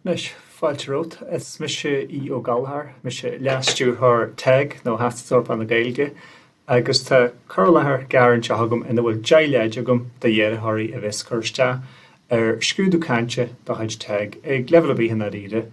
Anois, fáilte romhat. Is mise Aodh Ó Gallchóir. Mise Leas-Stiúrthóir teg, nó Teastas Eorpach na Gaeilge, agus tá cur i láthair gearr anseo agam ina bhfuil 10 leid agam d'iarrthóirí a bheas ag cur isteach ar scrúdú cainte de chuid teg, ag leibhéal ar bith i ndáiríre.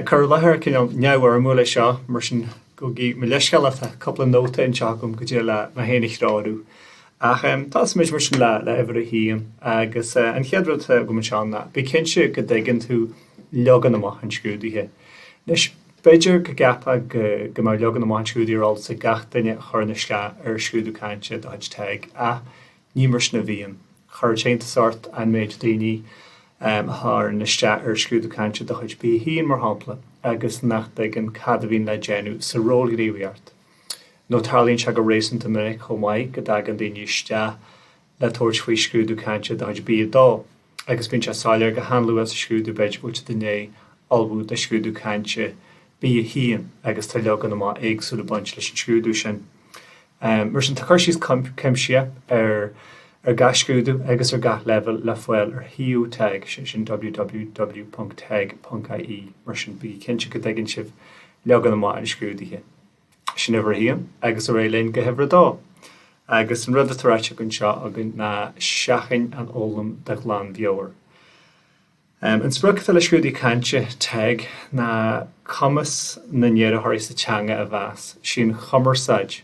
Cur i láthair cineál neamhfhoirmiúil é seo, mar sin gabhaigí mo leithscéal ach tá cúpla nóta anseo agam go dtig liom mé féin a threorú. Ach tosóimid mar sin le huimhir a haon agus an chéad rud atá agam anseo ná, bí cinnte go dtuigeann tú leagan amach an scrúdaithe. Anois, b'fhéidir go gceapfá go mbeadh leagan amach an scrúdaithe ar eolas ag gach duine a chuireann isteach ar scrúdú cainte de chuid teg ach ní mar sin a bhíonn. Chuirfeadh sé iontas ort an méid daoine a chuireann isteach ar scrúdú cainte de chuid B1, mar shampla, agus nach dtuigeann cad a bhíonn le déanamh sa ról gníomhaíocht. nó tarlaíonn sé go réasúnta minic chomh maith go dtagann daoine isteach le tabhairt faoi scrúdú cainte de chuid B2 agus bíonn sé soiléir go han-luath sa scrúdú, b'fhéidir, go bhfuil siad i ndiaidh ullmhú do scrúdú cainte B1 agus tá leagan amach éagsúil ag baint leis an scrúdú sin. Mar sin, tá cur síos cuimsitheach ar gach scrúdú agus ar gach leibhéal le fáil ar shuíomh teg, sé sin www.teg.ie, mar sin bígí cinnte go dtuigeann sibh leagan amach an scrúdaithe. Sin uimhir a haon, agus ar aghaidh linn go huimhir a dó. Agus an rud atá ráite anseo agam ná seachain an fhoghlaim de ghlanmheabhair. An sprioc atá le scrúdú cainte teg ná cumas na n-iarrthóirí sa teanga a mheas. Sí an chumarsáid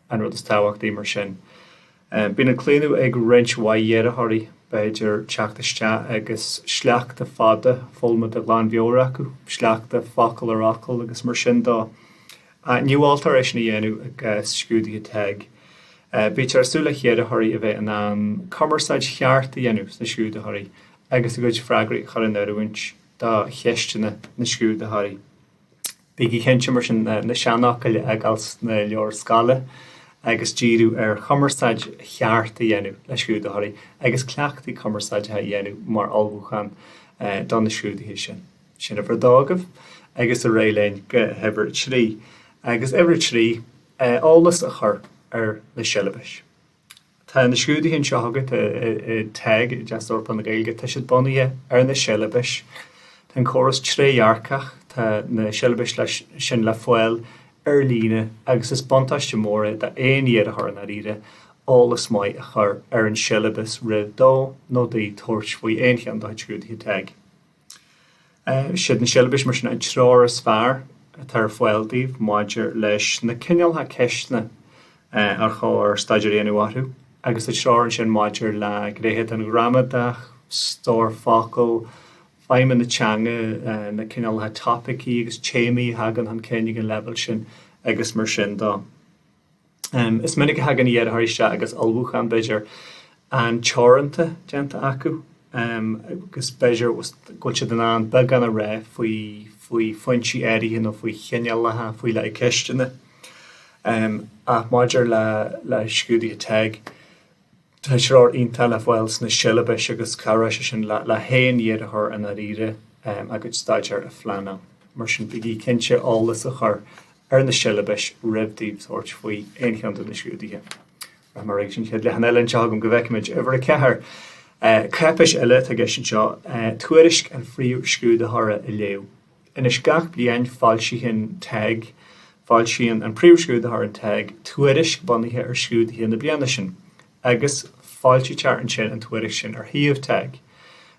an rud is tábhachtaí, mar sin. Ahh bíonn an claonadh ag roinnt mhaith iarrthóirí, b'fhéidir, teacht isteach agus sleachta fada foghlamtha de ghlanmheabhair acu, sleachta focal ar fhocal agus mar sin de. Ahh ní mholtar é sin a dhéanamh i gcás scrúduithe teg. Ahh bítear ag súil le hiarrthóirí a bheith in ann cumarsáid cheart a dhéanamh leis na scrúdaitheoirí agus a gcuid freagraí a chur in oiriúint do cheisteanna na scrúdaitheoirí. Bígí cinnte, mar sin, na seanfhocail a fhágáil sna leabhair scoile agus díriú ar chumarsáid cheart a dhéanamh le scrúdaitheoirí agus cleachtaí cumarsáideacha a dhéanamh mar ullmhúchán do na scrúduithe sin. Sin uimhir a dó agaibh agus ar aghaidh linn go huimhir a trí. Agus uimhir a trí, eolas a chur ar na siollabais. Tá na scrúduithe anseo agat i teg, i dTeastas Eorpach na Gaeilge. Tá siad bunaithe ar na siollabais. Tá an córas trédhearcach, tá na siollabais sin le fáil ar líne agus is buntáiste mór é d'aon iarrthóir i ndáiríre eolas maith a chur ar an siollabas roimh dó nó di tabhairt faoi aon cheann de chuid scrúduithe teg. Is iad na siollabais, mar sin, an treoir is fearr atá ar fáil daoibh maidir leis na cineálacha ceisteanna ar chóir staidéar a dhéanamh orthu, agus an treoir ansin maidir le gnéithe den ghramadach, stór focal, feidhmiú na teanga, na cineálacha topaicí agus téamaí a thagann chun cinn ag an leibhéal sin agus mar sin de. Is minic a thagann iarrthóirí isteach, agus ullmhúchán, b'fhéidir, an-teoranta déanta acu, agus b'fhéidir go bhfuil siad in ann beagán a rá faoi phointí áirithe nó faoi chineálacha faoi leith ceisteanna, ach maidir le scrúduithe TEG, Tá treoir iontach le fáil sna siollabais agus cabhróidh sé sin le haon iarrthóir i ndáiríre a gcuid staidéir a phleanáil. Mar sin, bígí cinnte eolas a chur ar na siollabais roimh daoibh tabhairt faoi aon cheann de na scrúduithe. Rachaimid ar aghaidh leis an chéad leathanach eile anseo agam go bhfeicfimid. Uimhir a ceathair. Cáipéis eile atá i gceist anseo, tuairisc an phríomhscrúdaitheora a léamh. Anois gach bliain foilsíonn TEG, foilsíonn an Príomh-Scrúdaitheoir in TEG tuairisc bunaithe ar scrúduithe na bliana sin agus foilsítear ansin an tuairisc sin ar shuíomh TEG.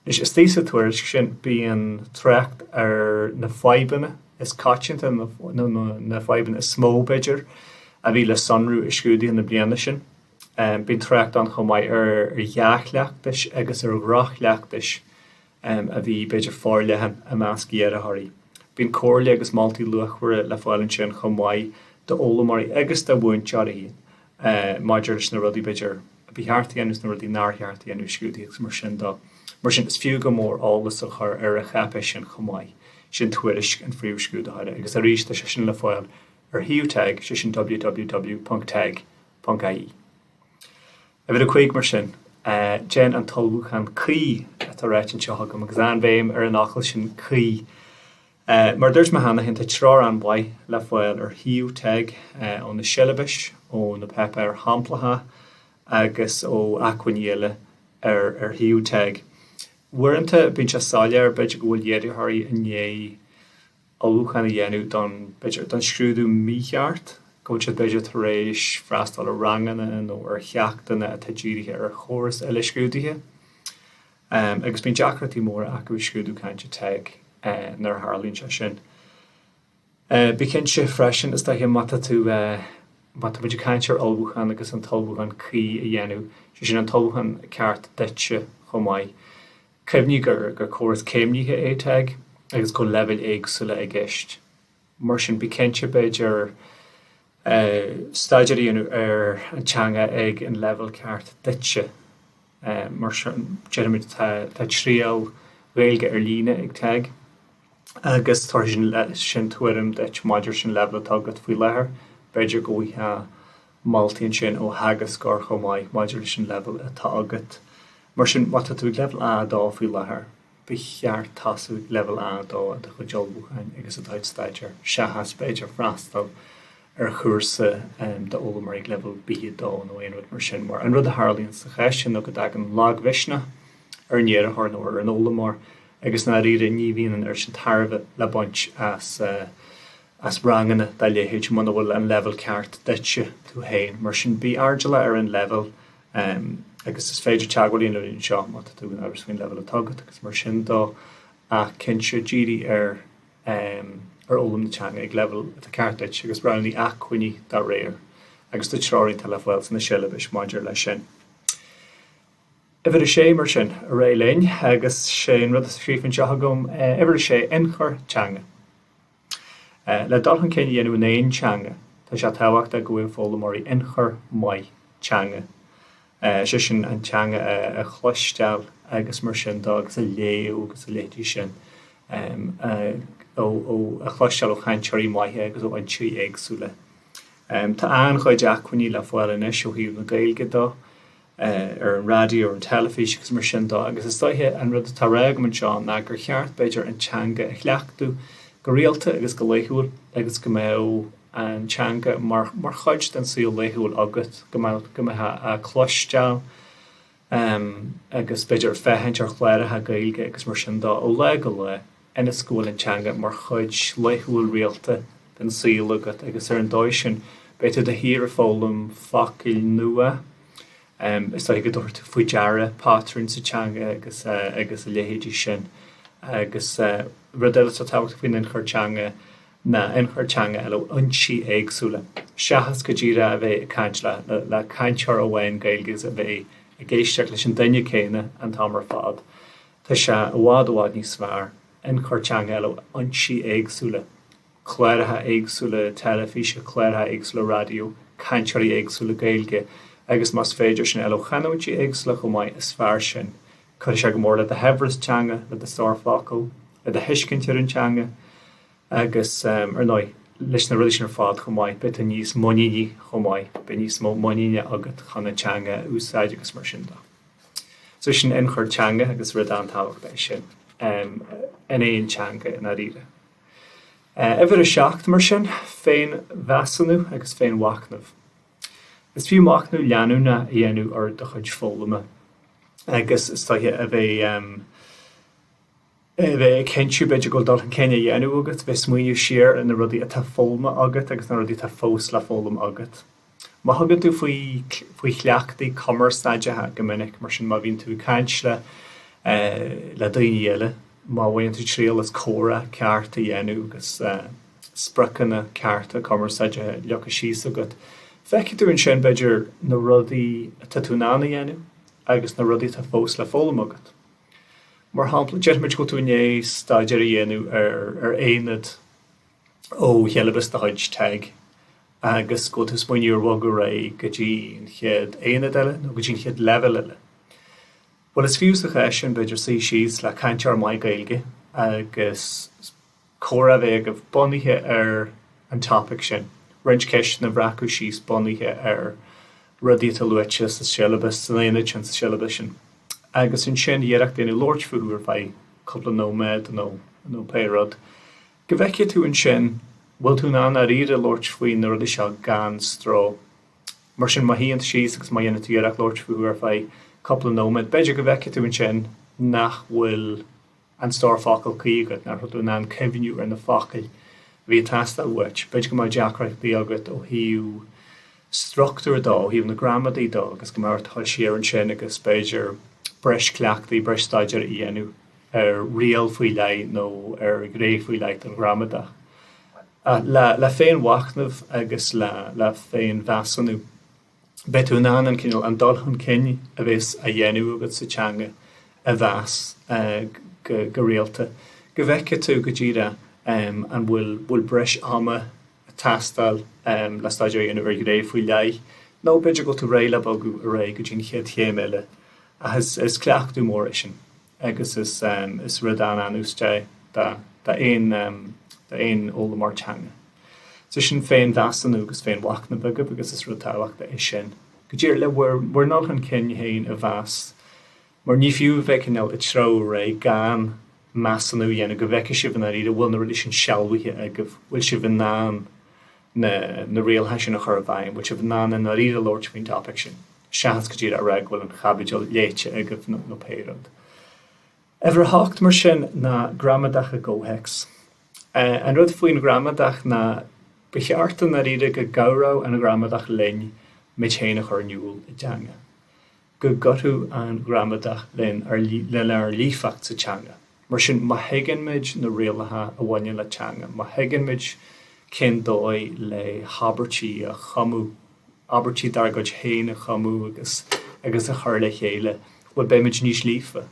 Anois istigh sa tuairisc sin bíonn trácht ar na fadhbanna is coitianta nó na fadhbanna is mó, b'fhéidir, a bhí le sonrú i scrúduithe na bliana sin. Bíonn trácht ann chomh maith ar dhea-chleachtais agus ar dhroch-chleachtais. a bhí, b'fhéidir, forleathan i measc iarrthóirí. Bíonn comhairle agus moltaí luachmhara le fáil ansin chomh maith d'fhoghlaimeoirí agus do mhúinteoirí maidir leis na rudaí, b'fhéidir, ba cheart a dhéanamh is na rudaí nár cheart a dhéanamh i scrúduithe is mar sin de. Mar sin, is fiú go mór eolas a chur ar an cháipéis sin chomh maith. Sin tuairisc an Phríomh-Scrúdaitheora agus arís tá sé sin le fáil ar shuíomh TEG, sé sin www.teg.ie. Uimhir a cúig, mar sin, déan an t-ullmhúchán cuí atá ráite anseo agam, agus an-bhéim ar an fhocal sin cuí. Mar a dúirt mé cheana féin, tá treoir an-mhaith le fáil ar shuíomh TEG, ó na siollabais, ó na páipéir shamplacha agus ó acmhainní eile ar shuíomh TEG. Uaireanta, bíonn sé soiléir, b'fhéidir, go bhfuil iarrthóirí i ndiaidh ullmhúchán a dhéanamh don, don scrúdú mícheart, go bhfuil siad, b'fhéidir, tar éis freastal ar ranganna nó ar cheachtanna atá dírithe ar chóras eile scrúdaithe agus bíonn deacrachtaí móra acu i scrúdú cainte TEG nuair a tharlaíonn sé sin. Bí cinnte freisin, is dóiche, má tá tú, má tá muid ag caint ar ullmhúchán agus an t-ullmhúchán cuí a dhéanamh, sé sin an t-ullmhúchán ceart duitse chomh maith, Cuimhnigh gur córas céimnithe é TEG agus go bhfuil leibhéil éagsúla i gceist. Mar sin, bí cinnte, b'fhéidir, staidéar a dhéanamh ar an teanga ag an leibhéal ceart duitse. Mar sin, déarfaimid, tá triail Ghaeilge ar líne ag TEG agus tabharfaidh sin tuairim duit maidir leis an leibhéal atá agat faoi láthair. B'fhéidir go bhfuil moltaí ansin ó theagascóir chomh maith maidir leis an leibhéal atá agat. Mar sin, má tá tú ag leibhéal A2 faoi láthair, ba cheart tosú ag leibhéal A2 i do chuid ullmhúcháin agus i do chuid staidéir, seachas, b'fhéidir, freastal ar chúrsa d'fhoghlaimeoirí ag leibhéal B2 nó aon rud mar sin, mar an rud a tharlaíonn sa chás sin ná go dtagann lagmhisneach ar an iarrthóir nó ar an fhoghlaimeoir agus, i ndáiríre, ní bhíonn an oiread sin tairbhe le baint as. as ranganna dá leithéid muna bhfuil an leibhéal ceart duitse, tú féin. Mar sin, bí airdeallach ar an leibhéal agus is féidir teagmháil a dhéanamh linn anseo má tá tú in amhras faoin leibhéal atá agat agus mar sin dó ach cinnte, dírigh ar fhoghlaim na teanga ag leibhéal atá ceart duit agus roghnaigh acmhainní dá réir agus tá treoir atá le fáil sna siollabais maidir leis sin. Uimhir a Sé, mar sin, ar aghaidh linn agus sé an rud atá scríofa anseo agam, Uimhir a Sé, Ionchur Teanga. Le dul chun cinn a dhéanamh in aon teanga, tá sé tábhachtach go bhfaigheadh foghlaimeoirí ionchur maith teanga, is é sin an teanga a chloisteáil agus mar sin dó agus a léamh agus a leithéidí sin, a chloisteáil ó chainteoirí maithe agus ó fhoinsí éagsúla. Tá an-chuid acmhainní le fáil anois ó thaobh na Gaeilge dó ar an raidió, ar an teilifís agus mar sin de agus is dóigh an rud atá a rá agam anseo ná gur cheart, b'fhéidir, an teanga a chleachtadh go rialta agus go laethúil agus go mbeadh an teanga mar chuid den saol laethúil agat, go mbeifeá á cloisteáil agus b'fhéidir féachaint ar chláracha Gaeilge agus mar sin de ó lá go lá. ionas go bhfuil an teanga mar chuid laethúil rialta den saol agat agus ar an dóigh sin beidh tú de shíor ag foghlaim focail nua is dóiche go dtabharfaidh tú faoi deara pátrúin sa teanga agus agus a leithéidí sin agus rud eile atá tábhachtach faoin ionchur teanga ná ionchur teanga a fháil ó fhoinsí éagsúla seachas go díreach a bheith ag caint le cainteoir amháin Gaeilge a bheith ag éisteach leis an duine céanna an t-am ar fad Tá sé i bhfad i bhfad níos fearr ionchur teanga a fháil ó fhoinsí éagsúla, cláracha éagsúla teilifíse, cláracha éagsúla raidió, cainteoirí éagsúla Gaeilge agus más féidir sin a fháil ó chanúintí éagsúla chomh maith, is fearr sin. Cuirfidh sé go mór le do shaibhreas teanga, le do stór focal, le do thuiscint ar an teanga agus ar ndóigh leis na rudaí sin ar fad chomh maith, beidh tú níos muiníní chomh maith, beidh níos mó muiníne agat chun an teanga a úsáid agus mar sin de. So sin ionchur teanga agus rud an-tábhachtach é sin in aon teanga i ndáiríre. Uimhir a seacht, mar sin, féinmheasúnú agus féinmhachnamh. Is fiú machnamh leanúnach a dhéanamh ar do chuid foghlama agus is tuigthe a bheith a bheith ag cinntiú, b'fhéidir, go bhfuil dul chun cinn á dhéanamh agat, bheith ag smaoineamh siar ar na rudaí atá foghlamtha agat agus na rudaí atá fós le foghlaim agat. Má thugann tú faoi faoi chleachtaí cumarsáideacha go minic, mar sin, má bhíonn tú ag caint le le daoine eile, má bhaineann tú triail as comhrá ceart a dhéanamh agus spriocanna cearta cumarsáideacha leagtha síos agat, feicfidh tú ansin, b'fhéidir, na rudaí atá tú in ann a dhéanamh agus na rudaí atá fós le foghlaim agat. Mar shampla, déarfaimid go bhfuil tú i ndiaidh staidéar a dhéanamh ar ar aonad ó shiollabas de chuid TEG agus go bhfuil tú ag smaoineamh ar bhogadh ar aghaidh go dtí an chéad aonad eile nó go dtí an chéad leibhéal eile. Bhuel, is fiú sa chás sin, b'fhéidir, suí síos le cainteoir maith Gaeilge agus comhrá a bheith agaibh bunaithe ar an topaic sin, roinnt ceisteanna a bhreacadh síos bunaithe ar rudaí atá luaite sa siollabas, san aonad sin sa siollabas sin. Agus ansin iarracht a dhéanamh labhairt fúthu ar feadh cúpla nóiméad nó nó pé rud. Go bhfeicfidh tú ansin bhfuil tú in ann i ndáiríre labhairt faoi na rudaí seo gan stró. Mar sin má shuíonn tú síos agus má dhéanann tú iarracht labhairt fúthu ar feadh cúpla nóiméad b'fhéidir go bhfeicfidh tú ansin nach bhfuil An stór focal cuí agat, nach raibh tú in ann cuimhniú ar na focail a bhí ag teastáil uait. B'fhéidir go mbeadh deacrachtaí agat ó thaobh struchtúir dó, ó thaobh na gramadaí dó agus go mbeadh ort dul siar ansin agus b'fhéidir breis cleachtaí, breis staidéir a dhéanamh ar riail faoi leith nó ar ghné faoi leith den ghramadach. Ach le féinmhachnamh agus le féinmheasúnú. beidh tú in ann an cineál, an dul chun cinn a bhéas á dhéanamh agat sa teanga a mheas go rialta, go bhfeicfidh tú go díreach an bhfuil, bhfuil breis ama ag teastáil le staidéar a dhéanamh ar ghné faoi leith, nó b'fhéidir go bhfuil tú réidh le bogadh ar aghaidh go dtí an chéad chéim eile, ach is cleachtadh mór é sin. agus is is rud an-úsáideach é d'aon fhoghlaimeoir teanga. So sin féinmheasúnú agus féinmhachnamh agaibh agus is rud tábhachtach é sin go díreach le bhur ndul chun cinn féin a mheas mar ní fiú a bheith cineál ag treabhadh ar aghaidh gan measúnú a dhéanamh go bhfeicfidh sibh i ndáiríre bhfuil na rudaí sin sealbhaithe agaibh, bhfuil sibh in ann. na na rialacha sin a chur i bhfeidhm, bhfuil sibh in ann i ndáiríre labhairt faoin topaic sin seachas go díreach a rá go bhfuil an chaibidil léite agaibh nó nó pé rud. Uimhir a hocht mar sin ná gramadach i gcomhthéacs. An rud faoin ghramadach ná ba cheart i ndáiríre go gcabhródh an ghramadach linn muid féin a chur in iúl i dteanga. go gcuideodh an ghramadach lenár líofacht sa teanga. Mar sin, má thuigeann muid na rialacha a bhaineann le teanga, má thuigeann muid cén dóigh le habairtí a chumadh, abairtí dár gcuid féin a chumadh agus agus a chur le chéile, bhuel, beidh muid níos líofa.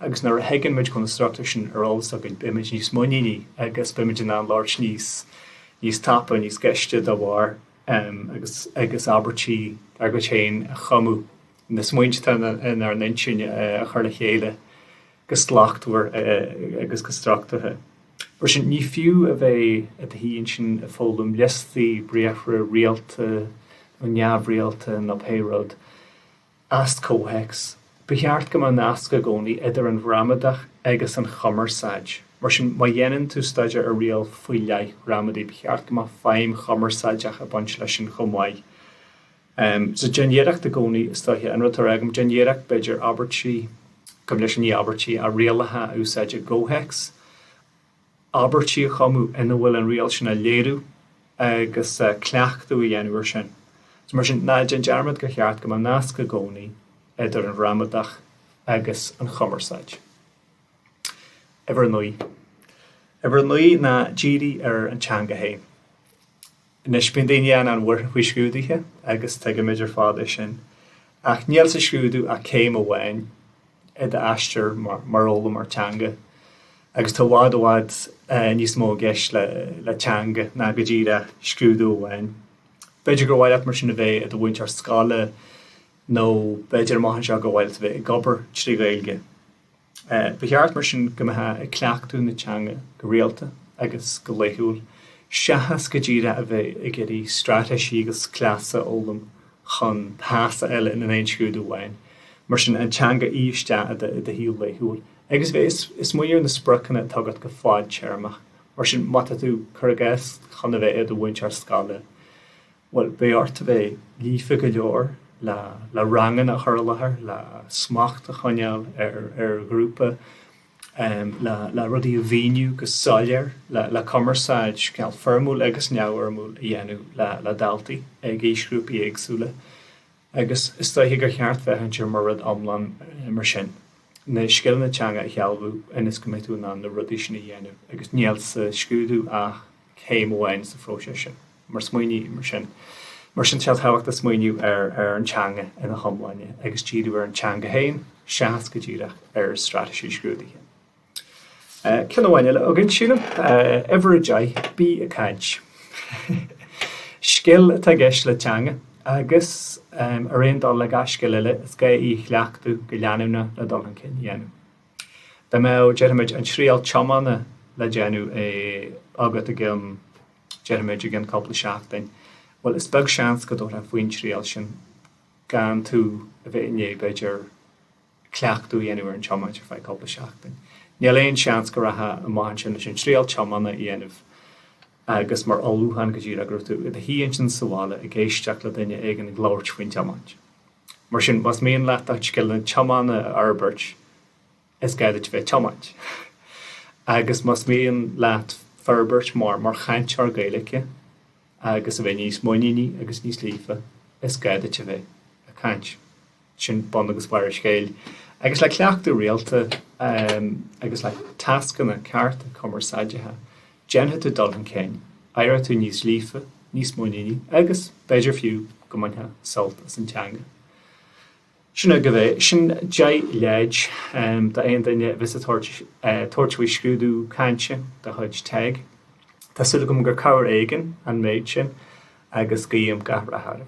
Agus nuair a thuigeann muid go bhfuil na struchtúir sin ar eolas againn, beidh muid níos muiníní agus beidh muid in ann labhairt níos tapa, níos gaiste dá bharr. um agus agus abairtí dár gcuid féin a chumadh, na smaointe atá inár n-intinn a chur le chéile go slachtmhar agus go struchtúrtha. Mar sin, ní fiú a bheith i do shuí ansin ag foghlaim liostaí briathra rialta nó neamhrialta nó pé rud. as comhthéacs. Ba cheart go mbeadh nasc i gcónaí idir an ghramadach agus an chumarsáid. Mar sin, má dhéanann tú staidéar ar riail faoi leith ghramadaí, ba cheart go mbeadh feidhm chumarsáideach ag baint leis sin chomh maith. So, déan iarracht i gcónaí, is dóiche, an rud atá mé ag rá, déan iarracht, b'fhéidir, abairtí, gabh mo leithscéal, ní abairtí ach rialacha a úsáid i gcomhthéacs. abairtí a chumadh ina bhfuil an riail sin á léiriú agus cleachtadh a dhéanamh air sin. So mar sin, ná déan dearmad gur cheart go mbeadh nasc i gcónaí idir an ghramadach agus an chumarsáid. Uimhir a naoi. Uimhir a naoi ná dírigh ar an teanga féin. Anois bíonn daoine an-bhuartha faoi scrúduithe agus tuigimid ar fad é sin. Ach níl sa scrúdú ach céim amháin i d'aistear mar fhoghlaimeoir teanga. Agus tá i bhfad i bhfad níos mó i gceist le teanga ná go díreach scrúdú amháin. B'fhéidir gur mhaith leat mar sin a bheith i do mhúinteoir scoile nó b'fhéidir amach anseo gur mhaith leat a bheith ag obair trí Ghaeilge. Ba cheart, mar sin, go mbeifeá ag cleachtadh na teanga go rialta agus go laethúil, seachas go díreach a bheith ag iarraidh straitéisí agus cleasa a fhoghlaim chun pasáil in aon scrúdú amháin. Mar sin, an teanga a fhí isteach i do shaol laethúil. Agus bheith ag smaoineamh ar na spriocanna atá agat go fadtéarmach. Mar sin, má tá tú, cuir i gcás, chun a bheith i do mhúinteoir scoile, Bhuel, beidh ort a bheith líofa go leor le le ranganna a chur i láthair, le smacht a choinneáil ar ar ghrúpa, le le rudaí a mhíniú go soiléir, le le cumarsáid, idir fhoirmiúil agus neamhfhoirmiúil, a dhéanamh le le daltaí ag aoisghrúpaí éagsúla. agus is dóiche gur cheart féachaint air mar rud iomlán mar sin, na scileanna teanga a shealbhú ionas go mbeidh tú in ann na rudaí sin a dhéanamh agus níl sa scrúdú ach céim amháin sa phróiseas sin. Mar smaoineamh mar sin, mar sin tá tábhacht le smaoineamh ar an teanga ina hiomláine agus díriú ar an teanga féin seachas go díreach ar straitéisí scrúdaithe. Ceann amháin eile againn, sílim. Uimhir a deich, bí ag caint. Scil atá i gceist le teanga agus, ar aon dul le gach scil eile, is gá í a chleachtadh go leanúnach le dul chun cinn a dhéanamh. Dá mbeadh, déarfaimid, an triail tiomána le déanamh agat i gceann, déarfaimid, i gceann cúpla seachtain, bhuel, is beag seans go dtabharfá faoin triail sin gan tú a bheith i ndiaidh, b'fhéidir, cleachtadh a dhéanamh ar an tiomáint ar feadh cúpla seachtain. Níl aon seans go rachfá amach ansin leis an triail tiomána a dhéanamh agus mar ullmhúchán go díreach go raibh tú i do shuí ansin sa bhaile ag éisteacht le duine éigin ag labhairt faoin tiomáint. Mar sin, más mian leat do chuid scileanna tiomána a fhorbairt, is gá duit a bheith ag tiomáint. Agus más mian leat forbairt mar mar chainteoir Gaeilge, agus a bheith níos muiníní agus níos líofa, is gá duit a bheith ag caint. Sin bun agus barr an scéil. Agus le cleachtadh rialta agus le tascanna cearta cumarsáideacha, déanfaidh tú dul chun cinn, éireoidh tú níos líofa, níos muiníní agus, b'fhéidir fiú, go mbainfeá sult as an teanga. Sin agaibh é. Sin deich leid d'aon duine a bheas ag tabhairt faoi scrúdú cainte de chuid TEG. Tá súil agam gur cabhair éigin an méid sin agus guím gach rath oraibh.